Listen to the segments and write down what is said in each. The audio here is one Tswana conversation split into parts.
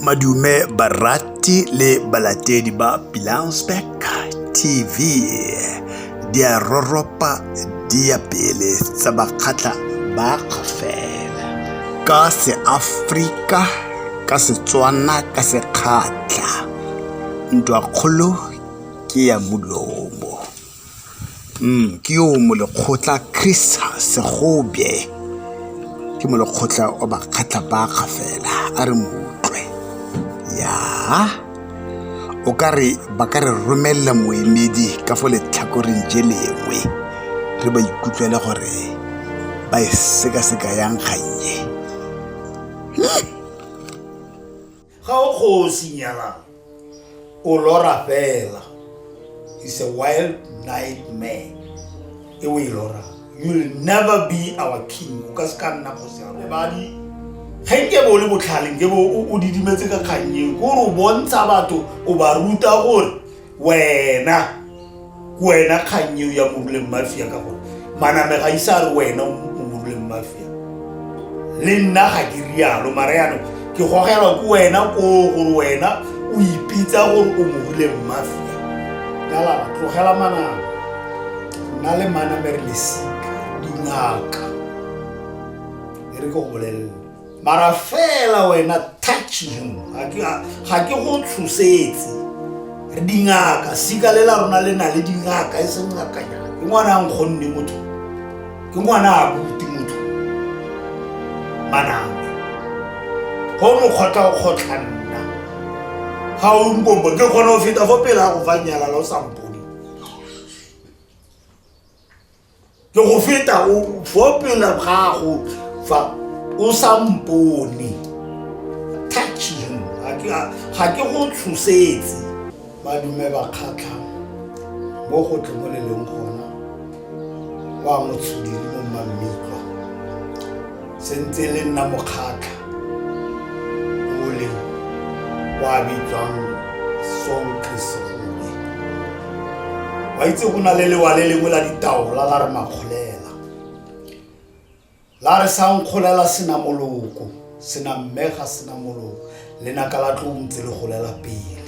Madume barati le balatedi ba Pilansbeck TV di a roropa di ya pele tsa bakgatla ba kgafela ka seafrika ka setswana ka sekgatla ntwakgolo ke ya mulomo Ke yo o molekgotla Chris Segobe ke molekgotla wa bakgatlha bakga fela a re moutlwe ya o ka re ba ka re romelela moemedi ka fo letlhakoreng je lengwe re ba ikutlwele gore ba e sekaseka yang kgannye. ga o kgosi nyalang o lora fela is a wild nightmare e o e lora you will never be our king o ka se ka nna kgosi ya robadi ga nke bo le botlhale nke bo o didimetse ka kgang eo gore o bontsha batho o ba ruta gore wena ke wena kgang eo ya moruleng mafia ka gore maname ga isa re wena moruleng mafia le nna ga ke rialo mara yanong ke gogelwa ke wena ko gore wena o ipitsa gore o moruleng mafia kala tlogela maname nna le maname re lesika dingaka e re ke go bolelele mara fela wena touching ga ke go tshosetse re dingaka sika le la rona le na le dingaka e seng ngakanyana ke ngwana a nkgonne motho ke ngwana a buti motho manang go mokgotla o kgotlha nna ga o nkombo ke kgone go feta fo pele a go fa nyalala o sampo ke go feta o fo pela gago fa o sa mpone touch him ga ke go tshosetse badume ba kgatlha mo go tle mo le leng gona wa motshudiri mo mmammiko se ntse le nna mokgatlha ole wa bitswang sonkrisegoe wa itse go na le lewa le lengwe la ditaola la re makgolela la re sa nkgolela sena moloko sena mmega sena moloko lenaka la tlo ntse le golela pele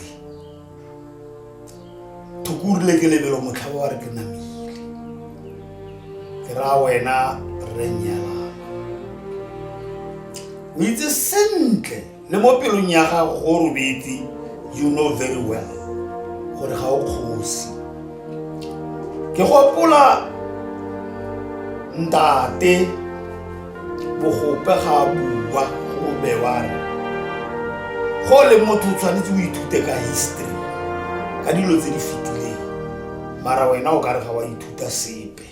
thukurile ke lebelo motlha wa re ke namile ke raya wena re nyalana o itse sentle le mo pelong ya gago go robetse you know very well gore ga o kgosi ke gopola ntate bogope ga bua go bewang go le motho o tshwanetse o ithute ka history ka dilo tse di fetileng mara wena o ka re ga wa ithuta sepe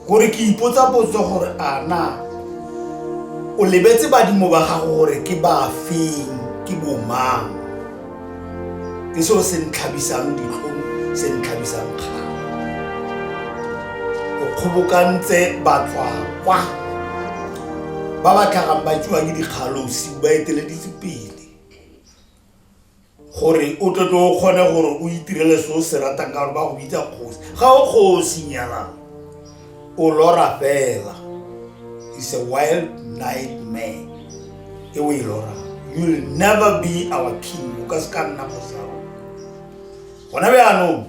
gore ke ipotsa potso gore a na o lebetse badimo ba gago gore ke ba feng ke bomang ke seo se ntlhabisang dikgong se ntlhabisang kgang o kgobokantse batlwakwa ba ba tlhagang ba tsewa ke dikgalosi ba eteleditse pele gore o tlotlo o kgone gore o itirele se o se ratang ka gore ba go bitsa kgosi ga o kgosi nyalang o lora fela is a wild nightmare e o e lora you will never be our king o ka se ka nna kgosaro gona bjaanong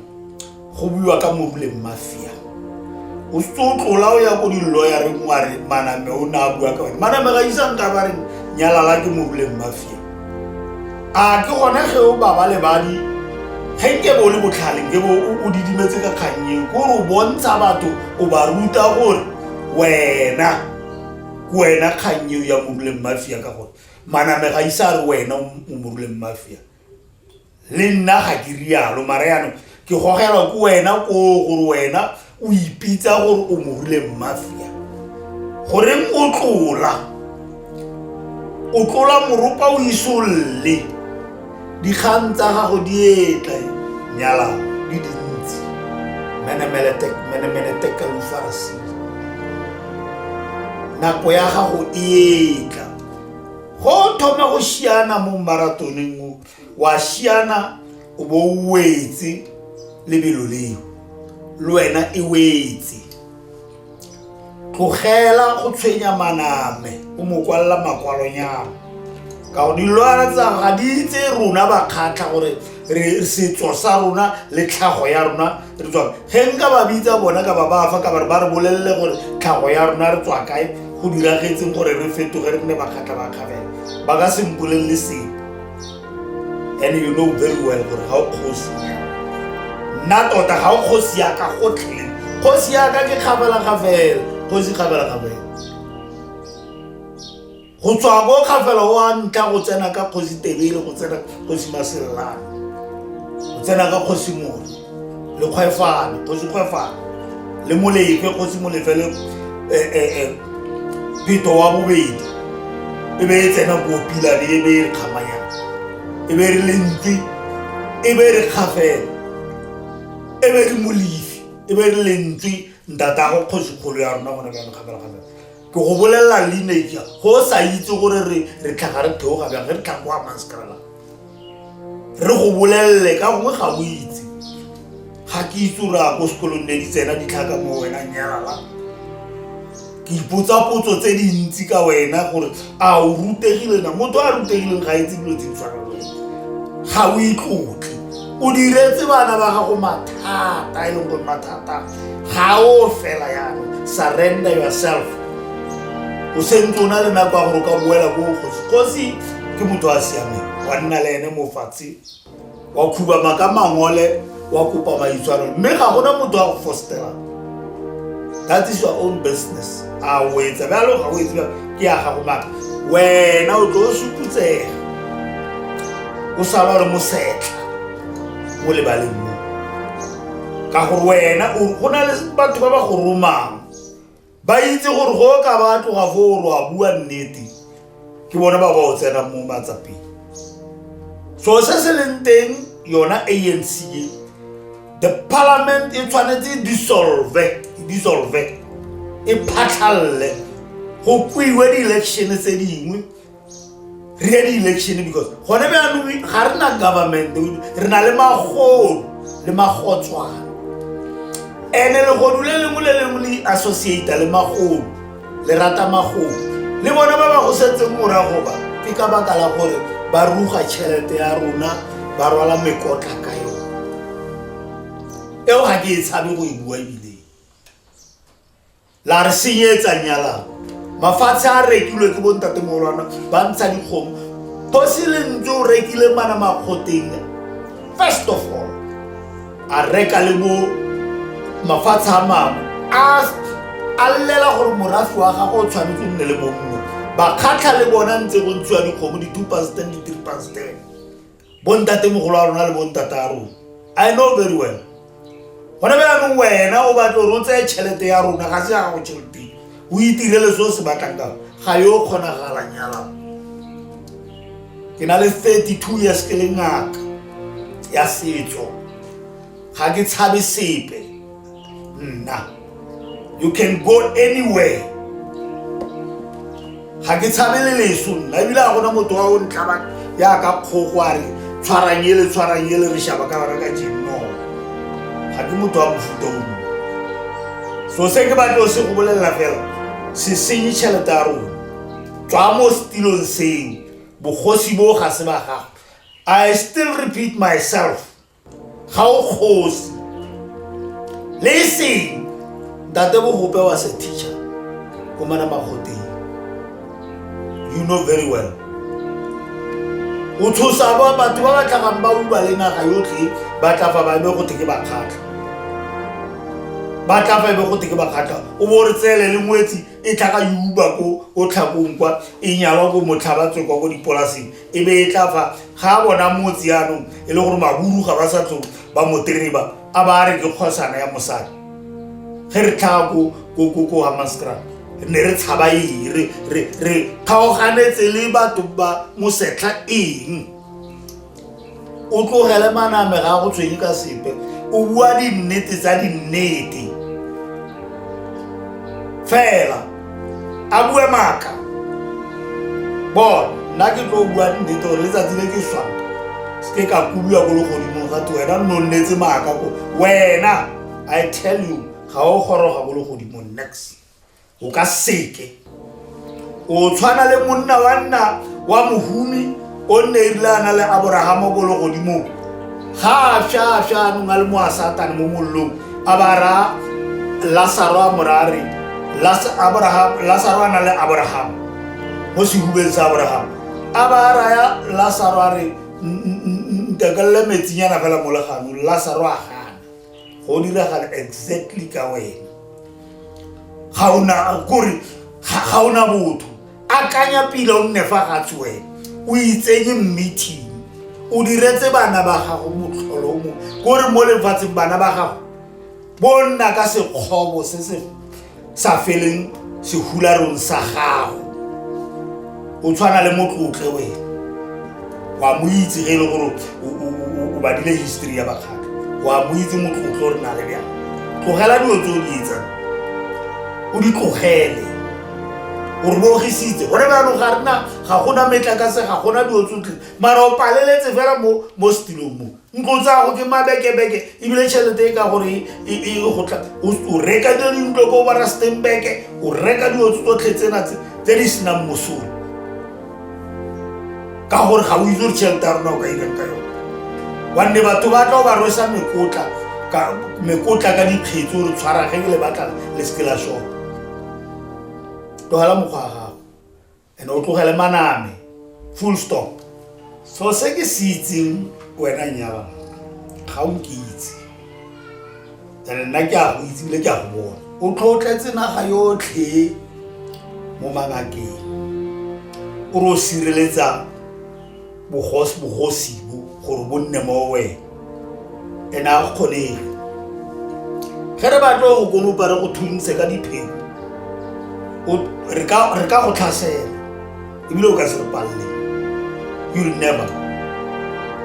go buiwa ka moruleng mafia o setse o tlola o ya ko dilloyareng wa re maname o ne a bua ka one maname ga isang ka ba re nyalala ke moruleng mafia a ke gone ge o baba lebadi ge nke bo o le botlhale nke bo o didimetse ka kgannye ko re o bontsha batho o ba ruta gore wena ke wena kgang eo ya moruleng mafia ka gore manamega isa re wena o moruleng mafia le nna ga ke rialo mare yanong ke gogelwa ko wena ko gore wena o ipitsa gore o morile mmafia goreng o tlola o tlola moropa o isolle dikgang tsa gago di etla nyala di dintsi menemenetekalofarasi nako ya gago e etla go thoma go šiana mo maratoneng o wa shiana o bo o wetse lebelo leo le wena e wetse tlogela go tshwenya maname o mo kwalela makwalonyana ka go dilwana tsa ga di itse rona ba kgatlha gore re setso sa rona le tlhago ya rona re tswa ge nka ba bitsa bona ka ba ba fa ka ba re ba re bolelele gore tlhago ya rona re tswa kae go diragetseng gore re fetoge re nne ba kgatlha ba kgabela ba ka se mpolelele seng and you know very well gore ga o kgosi nna tota ga o kgosi yaka gotlhe kgosi yaka ke kgabela ga fela kgosi kgabela ga fela go tswa ko kgafela o a ntla go tsena ka kgosi tebele go tsena kgosi maselelana go tsena ka kgosi moro le kgwefalo kgosi kgwefalo le molekwe kgosi molefe le eh, eh, eh, pheto wa bobedi e be e tsena ko pilane e be e re kgamanyana e be e re lentle e be e re kgafela e be e re molefi e be e re lentle ntatago kgosi kgolo ya rona gone bjang kgamelakgamela ke go bolelela lineja go sa itse gore re tlhaga re theoga bjang re tlhaga go amang sekarala re go bolelele ka gongwe ga o itse ga ke itse o raya ko sekolong ne di tsena ditlhaka mo wena nyala ke ipotsa potso tse dintsi ka wena gore a o rutegile na motho a rutegileng ga itse dilo tse di tshwana le ga o itlotle o diretse bana ba gago mathata e leng gore mathata ga o fela yana surrender yourself o sentse o na le nako ya gore o ka boela ko kgosi kgosi ke motho a siameng wa nna le ene mofatshe wa khubama ka mangole wa kopa maitshwaro mme ga gona motho a go fostelang that is your own business a o etsa bjalo ga o etse bjalo ke ya gago maka wena o tlo o suputsega o sala gore mosetla mo lebaleng mo ka gore wena go na le batho ba ba go romang ba itse gore go ka ba tloga fo o re wa bua nnete ke bone ba ba o tsenang mo matsapeng so se se leng teng yona anc e the parliament e tshwanetse e dissolve e dissolve e phatlhalele go kwiwe di-election tse dingwe re di election because gone bjanong ga re na government re na le magodu le magotswana ene legodu le lengwe le lengwe le associata le magodu le rata magodu le bona ba ba go setseng morago ba ke ka baka la gore ba ruga tšhelete ya rona ba rwala mekotla ka yone eo ga ke e tshabe go e bua ebile la re senyetsa nyalano mafatshe a rekilwe ke bontatemolwana ba ntsha dikgomo kgosi le ntse o rekile mana makgoteng first of all a reka le bo mafatshe a mangwe a llela gore morafi wa gagwe o tshwanetse o nne le bo mongwe bakgatlha le bona ntse go ntshiwa dikgomo di-two pasten di-three pasten bontatemogolo a rona le bontata a rona i know very well gone ba yanong wena o batle gore o tseye tšhelete ya rona ga se ya gago tšheleteng o itirele se o se batlang ka ga yo kgonagalang yalang ke na le 32 years ke le ngaka ya setso ga ke tshabe sepe nna you can go anywhere ga ke tshabe le leso nna ebile a gona motho wa o ntlaba yaka kgogo a re tshwarang ele tshwarang ele re shaba ka bara ka jenno ga ke motho wa mofuta o mo so se ke batle o se go bolelela fela se senye tšhelete ya rona tswa mo setilong seo bogosi bo ga se ba gago i still repeat myself ga o kgosi le seng ntate bogope wa se teacher ko mana magoteng you know very well o tshosa ba batho ba ba tlhagang ba uba le naga yotlhe ba tla fa ba ebe go teke bakgatlha ba tla fa ebe go teke bakgatlha o bo re tseele le ngwetsi e tlhaga yuba ko o tlhakong kwa e nyalwa ko motlhabatswe kwa ko dipolaseng e be e tla fa ga a bona motse yanong e le gore maburu ga ba sa tlo ba motereba a ba a re ke kgosana ya mosadi ge re tlhaga ko hamascra ne re tshaba eng re kgaoganetse le batho ba mosetlha eng o tlogele maname ga go tshwenye ka sepe o bua dinnete tsa dinnete fela a bue maaka bona nna ke tlo bua dinnete gore letsatsi le ke swang se ke ka kubiwa ko legodimong gate wena nno nnetse maaka ko wena i tell you ga o goroga ko legodimong next o ka seke o tshwana le monna wa nna wa mohumi o nne erile a na le aborahama ko le godimong ga a fša a fša anong a le mo a satane mo mollong a ba ra lasaro a morare lasaro a na le aborahama mo sehubeng sa aborahama a ba raya lasaro a re ntekelele metsinyana fela mo leganong lasaro a gana go diragala exactly ka wena ga ona kore ga ona botho akanya pila o nne fa gatse wena o itsenye meeting o diretse bana ba gago motlholo mo kore mo lefatsheng bana ba gago bo nna ka sekgobo se se sa feleng sehularong sa gago o tshwana le motlotle wena wa mo itse ge e le gore o badile history ya bakgaka wa mo itse motlotle o re na le bjang tlogela dilo tse o di etsa o di tlogele o re bogisitse gone bjano ga rena ga gona metlakase ga gona dilo tsotlhe mara o paleletse fela mo setilong mo ntlo tsago ke mabekebeke ebile tšhelete e ka gore e, e, e gotla o reka dilo dintlo ko ba rustenbeke o reka dilo tsotlhe tsena tse di senang mosolo ka gore ga o itse gore tšhelete ya rona o ka irang ka yone wanne batho ba tla o ba rwesa mekotla mekotla ka dikgetso re tshwara ge ke le batla le seke la shop tlogela mokgwa ga ene o tlogele maname full stop so se ke se itseng wena nyala ga o ke itse ene nna ke a go itse bile ke a go bona o tlhotletse naga yotlhe mo mangakeng o re o sireletsa bogosi bogosi bo gore bo nne mo wena ene a go kgoneng ge re batlo go konopa re go thuntshe ka dipheo o- re ka re ka go tlhasela ebile o ka se re palle you will never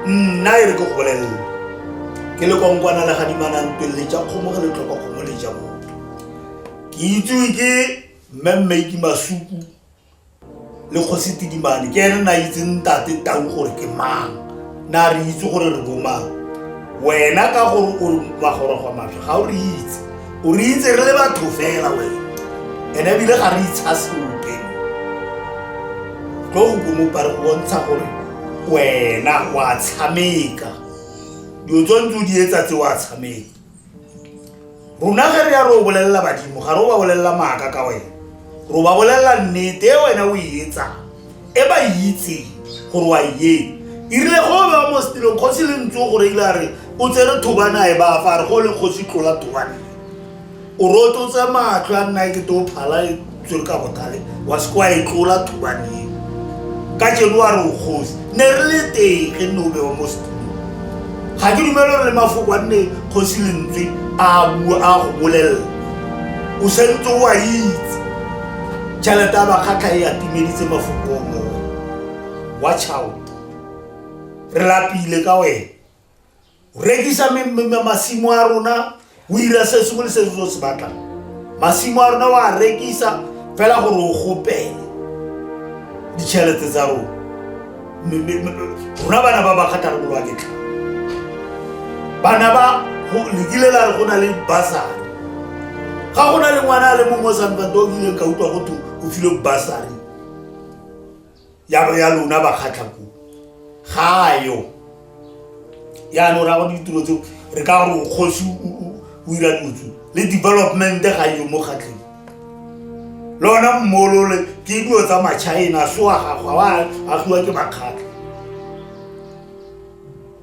nna e re ke go bolelele ke le konkwana le gadimanang pele le ja kgomo ge le tlhoka kgomo le ja motho ke itsewe ke mmemmeki masuku le kgosi tidimane ke ene na itse ntate tau gore ke mang na re itse gore re bomang wena ka gore o magorogwa matlho ga o re itse o re itse re le batho fela wena ene ebile ga re itsha seope tlo go komopa re bontsha gore wena wa tshameka dilo tse ntse o di etsa tse wa tshameka rona ge re ya re o bolelela badimo ga re o ba bolelela maaka ka wena ro ba bolelela nnete e wena o e etsa e ba e itseng gore wa e irile go o bewa mo setilong kgosi le ntse o gore ile a re o tsere thobana e ba fa re go le kgosi tlola thobane o roto tse matlho a nna e ke to phala tsere ka botale wa se kwa e tlola thubane eo ka jeno wa re o kgosi ne re le teng ge nne o bewa mo setulong ga ke dumele gore le mafoko a nne kgosi lentswe a bua a go bolelela o sentse o a itse tšhelete ya bakgatlha e atumeditse mafoko o mowa wa child re lapile ka wena rekisa masimo a rona o ira se sengwe le se se se batlang masimo a rona o a rekisa fela gore o gopele ditšhelete tsa rona rona bana ba ba kgatharolo wa ketlha bana ba lekile la re go na le basari ga go na le ngwana a le mongwe o santsantse o kileng ka utlwa go thwe o file basari ya bo ya lona ba kgatlha ko ga yo yaanong ra go ditiro tseo re ka gore kgosi o ira dutsu le development ga yo mo kgatlheng lona mmolole ke dilo tsa machina soa gago a agiwa ke makgatlha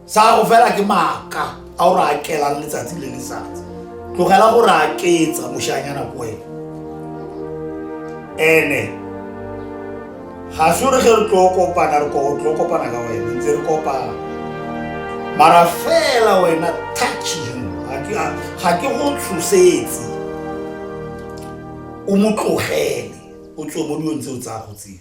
sa go fela ke maaka a o re akelang letsatsi le letsatsi tlogela go re aketsa moshanyana ko wena ene ga se re ge re tlo kopana re tlo kopana ka wena ntse re kopana mara fela wena touching ga ke go tshosetse o mo tlogele o tswe mo dilong tseo tsa go tseo